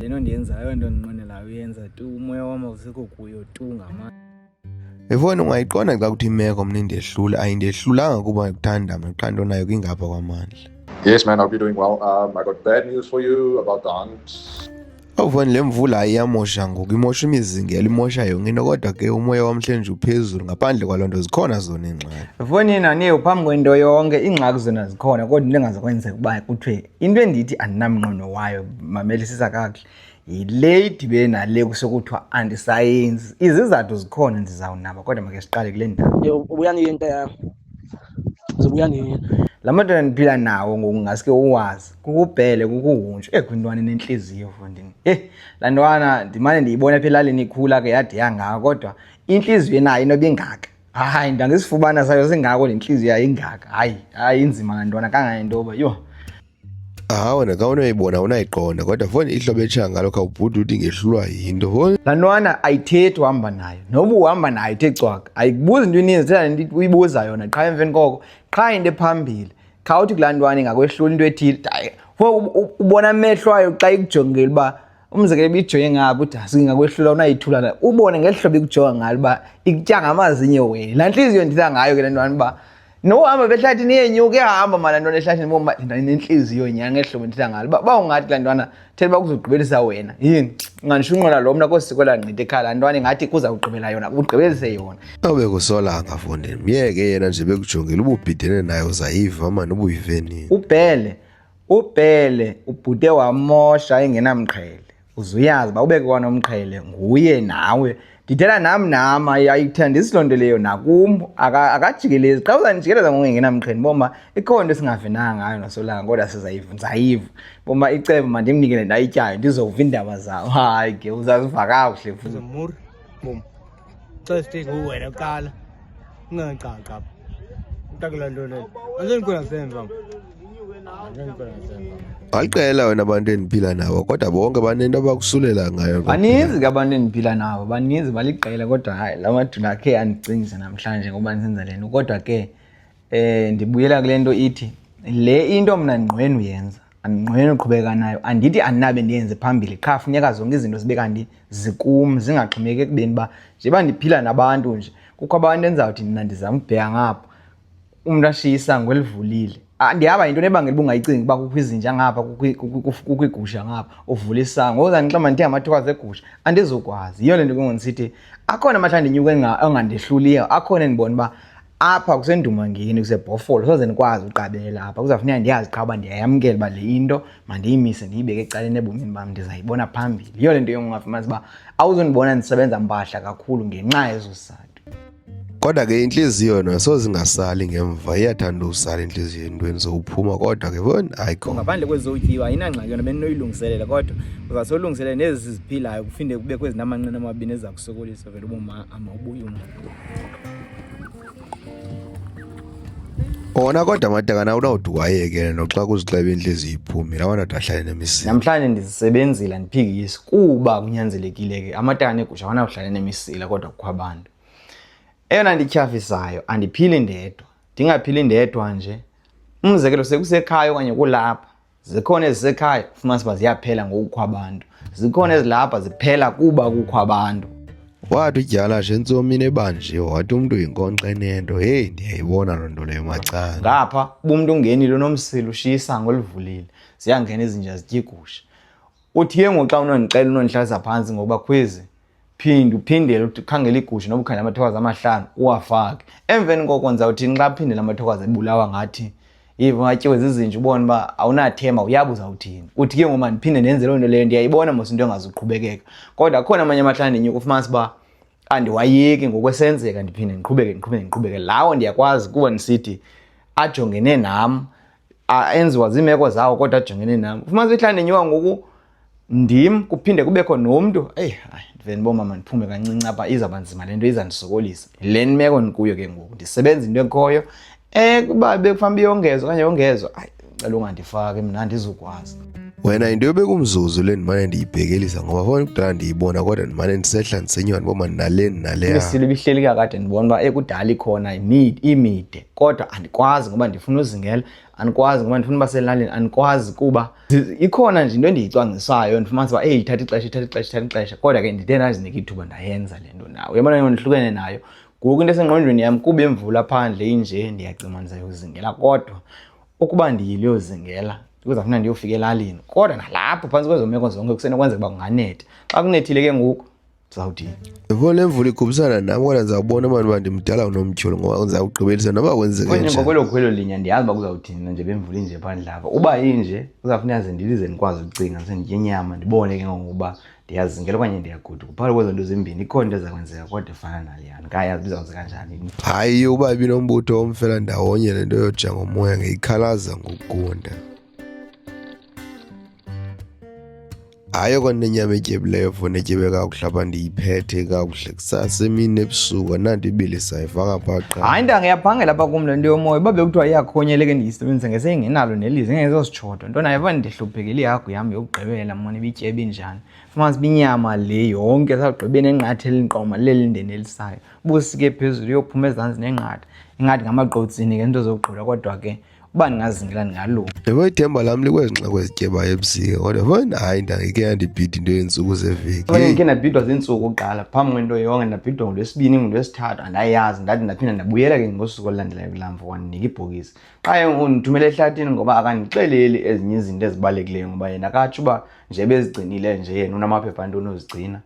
le nto ndiyenzayo nto ndinqwenelayo uyenza tu umoya wam awusekho kuyo tu ngamanye efowuni ungayiqonda xa kuthi imeko mna indehlula ayindehlulanga kuba ndikuthanda mna qha nto nayo kwingapha kwamandla yes man hope you're doing well um, i got bad news for you about the aunt awufani le mvula ayiyamosha ngoku imosha imizingelo imosha yonke into kodwa ke umoya wamhlenje uphezulu ngaphandle kwaloo nto zikhona zona iingxaki efowunini aniye uphambi kwento yonke iingxaki zona zikhona kodwa into engazokwenzeka uba kuthiwe into endithi andinamnqono wayo mamelisisa kakuhle yile idibene nale kusekuthiwa andisayenzi izizathu zikhona ndizawunaba kodwa make siqale kule ndawo ubuya niye nto yam zibuya niye la madoda endiphila nawo ngoku ngaske uwazi kukubhele kukuhuntshu ekwintwana eh, enentliziyo fundini eyi eh, laa ntwana ndimane ndiyibona apha elalini ikhula ke yade yangako kodwa intliziyo enayo inoba ingaka hayi ndangizifubana sayo singako le ntliziyo yayingaka hayi hayi inzima ngantwana kangangento yoba yho hawu wena ka unoyibona unayiqonda kodwa foni ihlobo etshaya ngalo khawubhuti uthi ngehlulwa yinto foni laa ntwana ayithethi uhamba nayo noba uhamba nayo ithe cwaka ayikubuzi into ininzi thela nto uyibuza yona qha emveni koko qha into ephambili khawuthi kulaa ntwana ingakwehlula into ethile ubona amehlo ayo xa ikujongile uba umzekelo ibijonge ngabo uthi singakwehlula unayithula na ubone ngeli hlobo ikujonga ngalo uba ikutya ngamazinyo wena laa ntliziyo nditha ngayo ke le ntwana uba nohamba behlathini yenyuka ehamba mala ntwana ehlathini boma nentliziyo nya ngeli hlobo nditha ngalo uba uba ungathi laa ntwana thela uba kuzogqibelisa wena yini ungandisho unqola lo mna kosiko langqita ekhala laa ntwana ingathi kuza kugqibela yona ugqibelise yona obe kusolanga fondini myeke yena nje bekujongile ububhidene naye uzayiva mani ubuyivenini ubhele Upele ubhude wamosha engenamqhele. Uzuyazi ba ubeke kwanomqhele nguye nawe. Ndithela nam nam ayithanda isiloo nto leyo nakum akajikelezi xa uzandijikeleza ngokungengenamqheni boma ikhona into esingavinanga ngayo nasolanga kodwa sizayiva ndizayiva boma icebo mandimnikele ndayityayo ndizova iindaba zawo hayi ke uzaziva kakuhle futhi Xa sithenga uwena kuqala ungangaqaqapha ntakulandonela andinikona semva baliqela wena abantu endiphila nabo kodwa bonke banento abakusulela ngayo baninzi ke abantu endiphila nabo baninzi baliqela kodwa hayi la madula akhe andicingise namhlanje ngoba ndisenza le nto kodwa ke um ndibuyela kule nto ithi le into mna ndingqwenu yenza andinqweneli uqhubeka nayo andithi andinabe ndiyenze phambili qha funeka zonke izinto zibe kanti zikum zingaxhomeki ekubeni uba njeba ndiphila nabantu nje kukho abantu endizawuthi mna ndizama ukubheka ngapha umntu ashiye isango elivulile ah, ndihamba yinto nebangela uba ungayicingi uba kukho izinja ngapha kukho igusha ngapha uvula isango ngoku zandixama ndithe ngamathokazi egusha andizokwazi yiyo le nto kungondisithi akhona amahlandi inyuka ongandehluliyo akhona endibona uba apha kusendumangeni kusebhofolo soze ndikwazi uqabela apha kuzawufuneka ndiyazi qha uba ndiyayamkela uba le into mandiyimise ndiyibeke ecaleni ebomini bam ndizayibona phambili yiyo le nto yongungafumanisa uba awuzundibona ndisebenza mpahla kakhulu ngenxa yezo sizathu kodwa ke intliziyo yona soze ingasali ngemva iyathanda usala intliziyo entweni zowuphuma kodwa ke bon ayikho ngaphandle kwezotyiwa ayinangxaki yona bendinoyilungiselela kodwa uzawusolungiselela nezi ziphilayo kufinde kubekho ezinamanqina amabini eziza kusokolisa vele uboma ama ubuye ona kodwa matakana unawuthi wayekele noxa kuzixeba intlezi iphumi lawana wona ahlale nemisini namhlanje ndizisebenzile ndiphikisi kuba kunyanzelekile ke amatakana egusha awanakuhlale nemisila kodwa kukho abantu eyona ndityhafisayo andiphili ndedwa ndingaphili ndedwa nje umzekelo sekusekhaya okanye kulapha zikhona ezisekhaya ufumanisa uba ziyaphela ngokukho abantu zikhona ezilapha ziphela kuba kukho abantu wathi udyala nje ntsomini ebanje wathi umntu yinkonxa enento heyi ndiyayibona loo nto leyo macanga ngapha uba umntu ungenile unomsila ushiye isango olivulile ziyangena izinja zityigusha Uthi ke ngoxa unondicela unondihlalisa phantsi ngoba khwezi phinde uphindele ukhangele igusha noba ukhangele amathokazi amahlanu uwafake emveni koko ndizawuthini xa phindele amathokazi ebulawa ngathi yiva ungatyiwe zizinja ubone uba awunathemba uyabe uzawuthini uthi ke ngoma ndiphinde ndenze loo nto leyo ndiyayibona mos into engazuqhubekeka kodwa akhona amanye amahlanu ndinyuka ufumanisa uba andiwayeki ngokwesenzeka ndiphinde ndiqhubeke ndiqhubeke ndiqhubeke lawo ndiyakwazi kuba ndisithi ajongene nam enziwa ziimeko zawo kodwa ajongene nam ufumanisa ihlala ndinyuka ngoku ndim kuphinde kubekho nomntu eyi hayi ndive ndibomama ndiphume kancinci apha izawuba nzima le nto iza ndisokolisa le meko ndikuyo ke ngoku ndisebenza into ekhoyo um kuba bekufanele uba iyongezwa okanye yongezwa ayi cela ungandifaki mna andizukwazi wena into yobeka umzuzu le ndimane ndiyibhekelisa ngoba fona kudala ndiyibona kodwa ndimane ndisehla ndisenywa ndiboma ndinaleni naleyaisilo ibihleli kakade ndibona uba ekudala ikhona imide kodwa andikwazi ngoba ndifuna uzingela andikwazi ngoba ndifuna uba selalini andikwazi kuba ikhona nje into endiyicwangcisayo ndifumanisa uba eyi ithatha ixesha ithatha ixesha ithatha ixesha kodwa ke ndide ndazinika ithuba ndayenza le nto nayo yabona yo ndihlukene nayo ngoku into esengqondweni yam kuba imvula phandle inje ndiyacima ndizayozingela kodwa Ukuba ndiyiliyozingela kuzafuna ndiyofika elalini kodwa nalapho phantsi kwezo meko zonke kusenokwenzeka uba kunganetha xa kunethile ke ngoku ndizawudini yho le mvula igubisana nam kodwa ndizawubona mani uba ndimdala unomtyholo ngoba ndizawugqibelisa noba kwenzeknjengoko kwelo khwelo linya ndiyazi uba kuzawuthini nanje bemvula inje phandle apha uba inje kuzawufuna yaze ndilize ndikwazi ukucinga senditye inyama ndibone ke ngokuba ndiyazingela okanye ndiyaguduka phakathi kwezo nto zimbini ikhona into ezakwenzeka kodwa efana naleyana kayazi bizawuze kanjani hayi uba ibilombutho omfela ndawonye le nto yoja ngomoya ngeyikhalaza ngokugunda hayi okona nenyama etyebileyo fona etyebe kakuhle apha ndiyiphethe kakuhle kusasa emini ebusuku ananto ibilisa ifaka phaa hayi ntanga iyaphangela apha kum le nto yomoya uba bekuthiwa iyakhonyeleke ndiyisebenzisa ngesengenalo nelize ngezos shodo nto nayo uba ndihluphekile ihagu yam yokugqibela mona ibityebe injani fumanisa uba inyama le yonke sagqibe nenqatha elinqoma lelindendelisayo busike phezulu yophuma ezantsi nenqatha ingathi ngamagqotsini ke nto zokugqula kodwa ke uba ndingazingela ndingalunga yebo ithemba lam likwezi nxeko ezityebayo ebusika kodwa fana hayi ndangike yandibhida into yeentsuku zeveki ndike ndabhidwa ziintsuku kuqala phambi kwento yonke ndabhidwa ngolwesibini ngolwesithathu andayazi ndathi ndaphinda ndabuyela ke ngosuku olulandelayo kulamva wandinika ibhokisi qha undithumela ehlathini ngoba akandixeleli ezinye izinto ezibalulekileyo ngoba yena akatsho uba nje bezigcinile nje yena unamaphepha ntoni uzigcina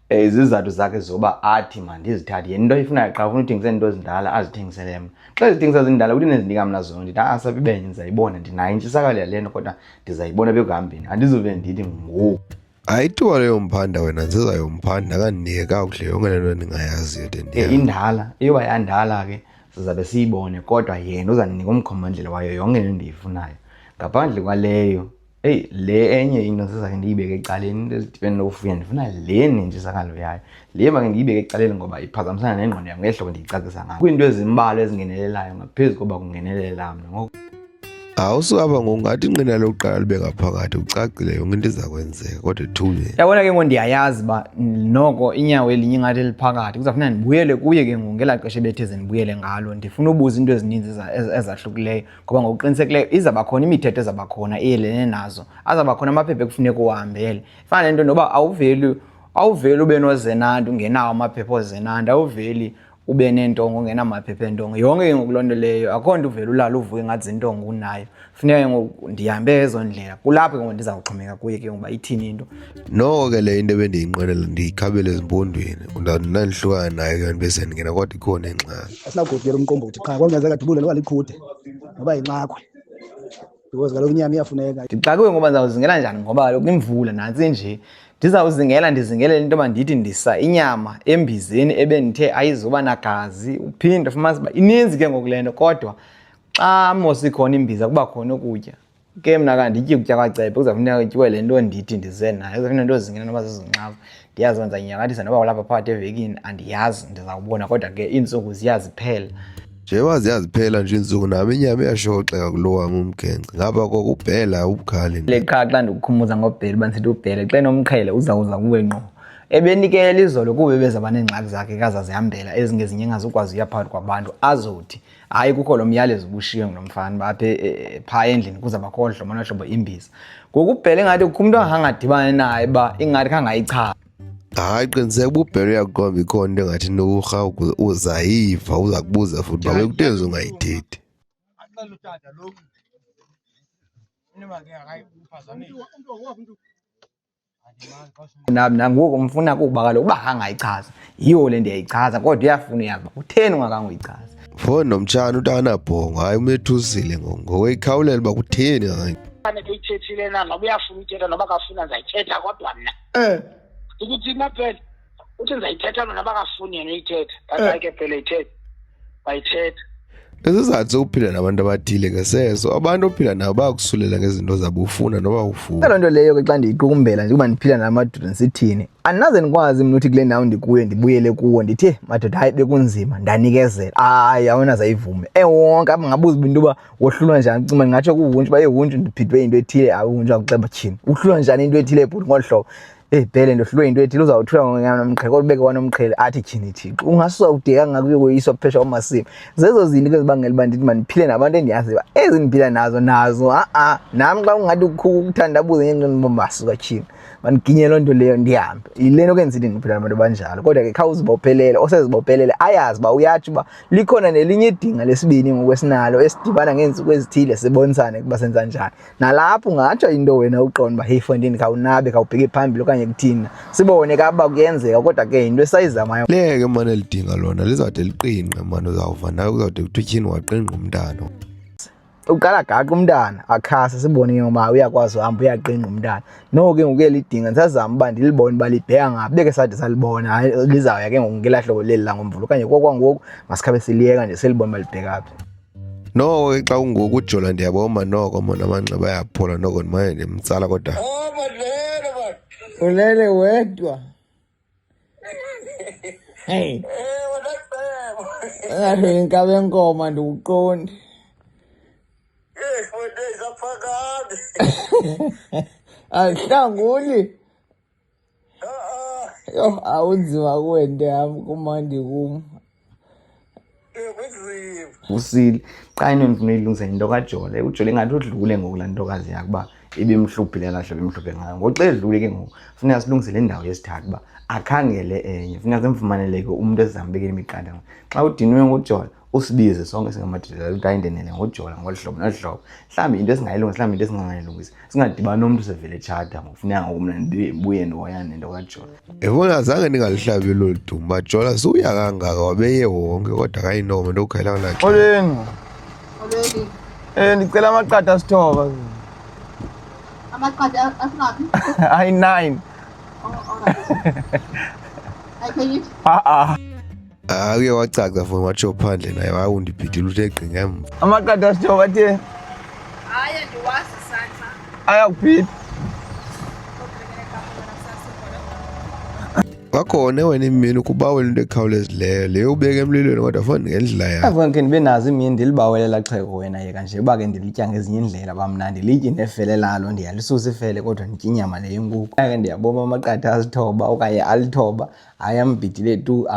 eh, izizathu zakhe zoba athi mandizithathe yena into ayifunayo qha ufuna uthengisela into ezindala azithengisele mna xa ezithengisa zindala uthi nezinika mna zona ndithi asabibenye ndizayibona ndinayo intshisakalo yale nto kodwa ndizayibona bekuhambeni andizuve ndithi ngoku ayithiwa leyo mphanda wena nziza yomphanda kandinika kakuhle yonke le nto endingayaziyo de ndiya indala iyoba yandala ke sizabe siyibone kodwa yena uzandinika umkhombandlela wayo yonke le ndiyifunayo ngaphandle kwaleyo eyi le enye into sizake ndiyibeke ecaleni into ezidibene nokufuya ndifuna le nentshisakalo yayo Le mba ke ndiyibeke ecaleni ngoba iphazamisana nengqondo yam ngehlobo ndiyicacisa ngayo. Kwiinto ezimbalwa ezingenelelayo ngaphezu koba kungenelela mna ngoku. Awusukaba ngokungathi inqina lokuqala libe ngaphakathi ucacile yonke into iza kwenzeka kodwa ethule. Yabona ke ngoku ndiyayazi uba noko inyawo elinye ingathi eliphakathi kuzawufuneka ndibuyele kuye ke ngoku ngelaa xesha ebethe ze ndibuyele ngalo ndifuna ubuza iinto ezininzi ezahlukileyo ngoba ngokuqinisekileyo izawuba khona imithetho ezawuba khona eyelene nazo azawuba khona amaphepha ekufuneka uwahambele fana nento noba awuveli awuveli ube nozenandi ungenawo amaphepha ozenandi awuveli ube neentongo ungenamaphepha eentongo yonke ke ngoku loo nto leyo akho nto uvele ulala uvuke ngathi zintongo unayo funeka ke ngoku ndihambe ezo ndlela kulapho ke ngoku ndiza kuxhomeka kuye ke ngoba ithini into noko ke le into ebendiyinqwenela ndiyikhabele ezimpondweni ndandinandihlukana nayo ke ndibe sendingena kodwa ikhona ingxaki asinakude umqombothi qha kwangenzeka dubule noba likhude noba yinxakwe because kaloku inyama iyafuneka ndixakwe ngoba ndizawuzingela njani ngoba kaloku imvula nantsi nje ndizawuzingela ndizingelele into yoba ndithi ndisa inyama embizeni ebendithe ayizuba nagazi uphinde fumanisa uba ininzi ke ngoku le nto kodwa xa mos ikhona imbiza kuba khona ukutya ke mna kandityi ukutya kwacebe kuzawufuneka kutyiwe le nto ndithi ndize nayo kuzawufuneka nto zingena noba zizinxavu ndiyazenza inyakalisa noba kulapha phakathi evekini andiyazi ndizawubona kodwa ke iintsuku ziyaziphela njengoba ziyaziphela nje iintsuku nam inyama iyashoxeka kulo wam umgence ngapha koko ubhela ubukhali le qha xa ndikukhumbuza ngobhela uba ndisithi ubhele xa enomqhele uzawuza kuwe ngqo ebenikela izolo kuba ebezaba neengxaki zakhe kazazihambela ezingezinye engazukwazi uya phakathi kwabantu azothi hayi kukho lo myalezo ubushiywe ngulo mfana uba apha e, e, phaa endlini kuza bakhohlwa mona hlobo imbiza ngoku ubhele ingathi kukho umntu angangadibani naye uba ingathi khangayichaza hayi qiniseka ububhele uyakuqomba ikhona into engathi norha uzayiva uza kubuza futhi uba bekutenzi ungayithethi nangoku umfuna kuba kaloku uba angayichaza yiwo le ndiyayichaza kodwa uyafuna uyazi uba kutheni ungakanga uyichaza foni nomtshana utanabhongo hayi umethusile ngokuyikhawulela uba kutheni fanele uyithethile na noba uyafuna uyithetha noba kafuna ndizayithetha kodwa mna um eh. ukuthi imapele uthi ndizayithetha lona bakafuni yena uyithetha basayike eh. phela ithetha bayithetha isizathu sokuphila nabantu abathile ke seso abantu ophila nabo bayakusulela ngezinto zabo ufuna noba ufuna loo nto leyo ke xa ndiyiqukumbela njengoba ndiphila nala madoda ndisithini andinaze ndikwazi mna uthi kule ndawo ndikuyo ndibuyele kuwo ndithe madoda hayi bekunzima ndanikezela hayi awunaze ayivume ewonke apha ngabuza uba into yoba wohlulwa njani cima ndingatsho kuwuntshi uba ewuntshi ndiphithwe into ethile awuntshi akuxeba tyhini uhlulwa njani into ethile ebhuti ngolu hlobo eyi bhele ndohlulwe yinto ethile uzawuthula ngonomqhele kodwa ubeke kwanomqhele athi tyhini thixo ungasusa udeka ngakuyo koyiswa phesha kwamasimi zezo zinto ke zibangela uba ndithi mandiphile nabantu endiyaziyo uba ezi ndiphila nazo nazo a-a nam xa ungathi ukhuku ukuthandabuze ngento ndibomasuka tyhini mandiginye loo nto leyo ndihambe yile nto ke ndisithi ndiphila nabantu abanjalo kodwa ke khawuzibophelele osezibophelele ayazi uba uyatsho uba likhona nelinye idinga lesibini ngokwesinalo esidibana ngeentsuku ezithile sibonisane ukuba senza njani nalapho ungatsho into wena uqonda uba heyi fondini khawunabe khawubheke phambili okanye kuthina sibone ka uba kuyenzeka kodwa ke yinto esayizamayo leke mane lidinga lona lizawude liqingqe mane uzawuva nayo kuzawude kuthiwa tyhini waqingqa umntana uqala gaqa umntana akhasa sibone ke ngoba uyakwazi uhamba uyaqinqa umntana noko ke ngokuye lidinga ndisazama uba ndilibone uba libheka ngaphi beke sade salibona hayi lizawuya ke ngoku ngelahlobo leli langomvulo okanye kokwangoku masikhabe siliyeka nje silibone uba libheka phi noko ke xa ungoku ujola ndiyaboma noko mona amanxeba ayaphola noko ndimane ndimtsala kodwa ulele wedwa heyi ngathi inkabe enkoma ndiwuqondi ahlanguli Yho, awunzima kuwe nto yam kumandi kum. Usile. Qha into endifuna uyilungisa yinto kajole. Ujole ingathi udlule ngoku laa ntokazi yakho uba ibimhlubhile laa hlobo imhlubhe ngayo. Ngoxa edlule ke ngoku funeka silungise le ndawo yesithathu uba akhangele enye. Funeka simfumaneleke umntu esizambekela imiqathango. Xa udinwe ngujole usibize sonke singamadoda loo nto ayindenele ngojola ngolu hlobo nolu hlobo mhlawumbi into esingayilungisa mhlawumbi into esingangayilungisa singadibani nomntu usevele tshata ngokufuneka ngoku mna ndibuye ndihoyane nento kajola yabona zange ndingalihlabi lolu dumba jola siwuya kangaka wabeye wonke kodwa kayinoma into okukhayela kulaxo oleni oleni um ndicela amaqatha asithoba amaqatha asingaphi ayi-nine oh, ha-a hayi uye wacaca fo watsho phandle naye waye undibhidile uthe gqinga emva amaqada sitsho wathe hayi ndiwazi isandla ayakuphi kwakhona wena imini ukubawela into ekhawulezileyo leyo ubeke emlilweni kodwa fo ngendlela yakho avona ke ndibe nazo imini ndilibawelela xheko wena yeka nje uba ke ndilitya ngezinye indlela uba mna ndilitye nefele lalo ndiyalisusa ifele kodwa nditya inyama leyo inkukhu ke ndiyaboma amaqada azithoba okanye alithoba hayi ambhidi lethu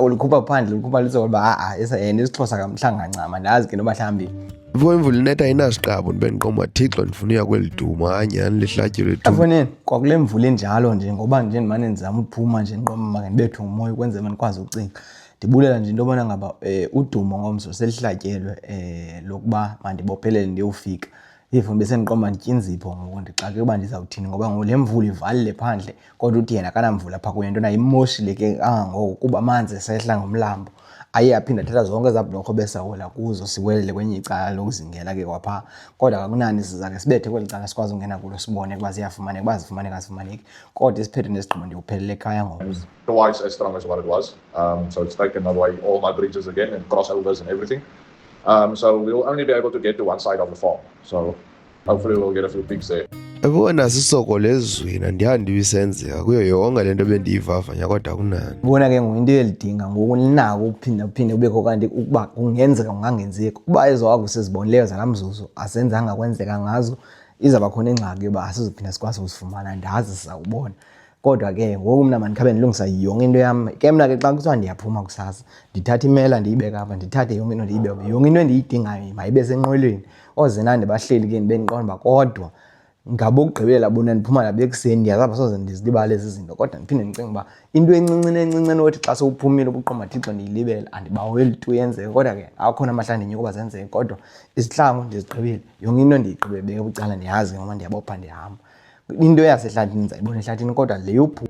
ulikhupha phandle ulikhupha lizoba ha-a yena isixhosa kamhlanga ncama ndazi ke noba mhlawumbi Vuka imvula inetha ayinasiqabo ndibe ndiqoma Thixo ndifuna uya kweli duma hayi nyhani lihlatyelo lethu. Afoneni kwakule mvula enjalo nje ngoba nje ndimane ndizama uphuma nje ndiqoma maka ndibethwe ngumoya ukwenzela mna ndikwazi ucinga. Ndibulela nje into yobana ngaba um udumo ngomso selihlatyelwe um lokuba mandibophelele ndiyowufika. even besendiqomba ndityinzipho ngoku ndixake uba ndizawuthini ngoba ngoku le mvula ivalile phandle kodwa uthi yena kanamvula phaa kuye ntona imoshile ke kangangoku kuba amanzi esehla ngomlambo aye aphinde athatha zonke ezaa bhlorho besawela kuzo siwelele kwenye icala lokuzingela ke kwaphaa kodwa kakunani sizake sibethe kweli cala sikwazi ungena kulo sibone kuba ziyafumaneka uba zifumaneka zifumaneki kodwa isiphethe nesigqibo ndiwuphelele ekhaya ngoku twice as strong as what it was um, so it's taken away all my bridges again and crossovers and everything Um, so we'll only be able to get to one side of the farm. So hopefully we'll get a few pigs there. ebona sisokole ezweni andihandi ibisenzeka kuyo yonke le nto bendiyivavanya kodwa kunani ubona ke ngoku into elidinga ngoku linako ukuphinda kuphinde kubekho kanti ukuba kungenzeka kungangenzeki uba ezo waku sizibonileyo zala mzuzu azenzanga kwenzeka ngazo izawuba khona ingxaki yoba asizophinda sikwazi ukuzifumana ndazi sizawubona kodwa ke ngoku mna mandikhabe ndilungisa yonke into yam ke mna ke xa kuthiwa ndiyaphuma kusasa ndithatha imela ndiyibeke apha ndithathe yonke into ndiyibeke yonke into endiyidingayo mayibe senqwelweni oozena ndibahleli ke ndibe ndiqonda uba kodwa ngabokugqibela bona ndiphuma nabo ekuseni ndiyazapha soze ndizilibale ezi zinto kodwa ndiphinde ndicinga uba into encincini encincini othi xa sewuphumile ubuqoma thixo ndiyilibele andibaweli tu yenzeke kodwa ke akhona amahla ndinyuka uba zenzeke kodwa izihlangu ndizigqibile yonke into ndiyigqibebeke bucala ndiyazi ngoba ndiyabopha ndihamba into yasehlathini ndizayibona ehlathini kodwa le yobhu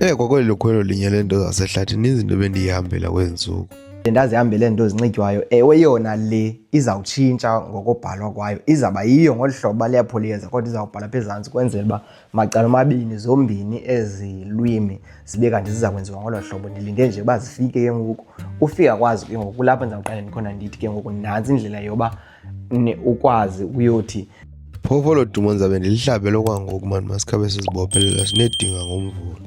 Eh kwakweli lokhwelo linye lento zasehlathini izinto bendiyihambela kwezi ntsuku. Ndazihambele nto zinxitywayo ewe yona le izawutshintsha ngokobhalwa kwayo izawuba yiyo ngolu hlobo baleyapho liyeza kodwa izawubhala apha ezantsi kwenzela uba macala omabini zombini ezi lwimi zibe kanti ziza kwenziwa ngolo hlobo ndilinde nje uba zifike ke ngoku ufika kwazi ke ngoku kulapho ndizawuqale ndikhona ndithi ke ngoku nantsi indlela yoba ukwazi ukuyothi phofu olo dumo ndizabe ndilihlabele okwangoku mani masikhabe sizibophelela sinedinga ngomvulo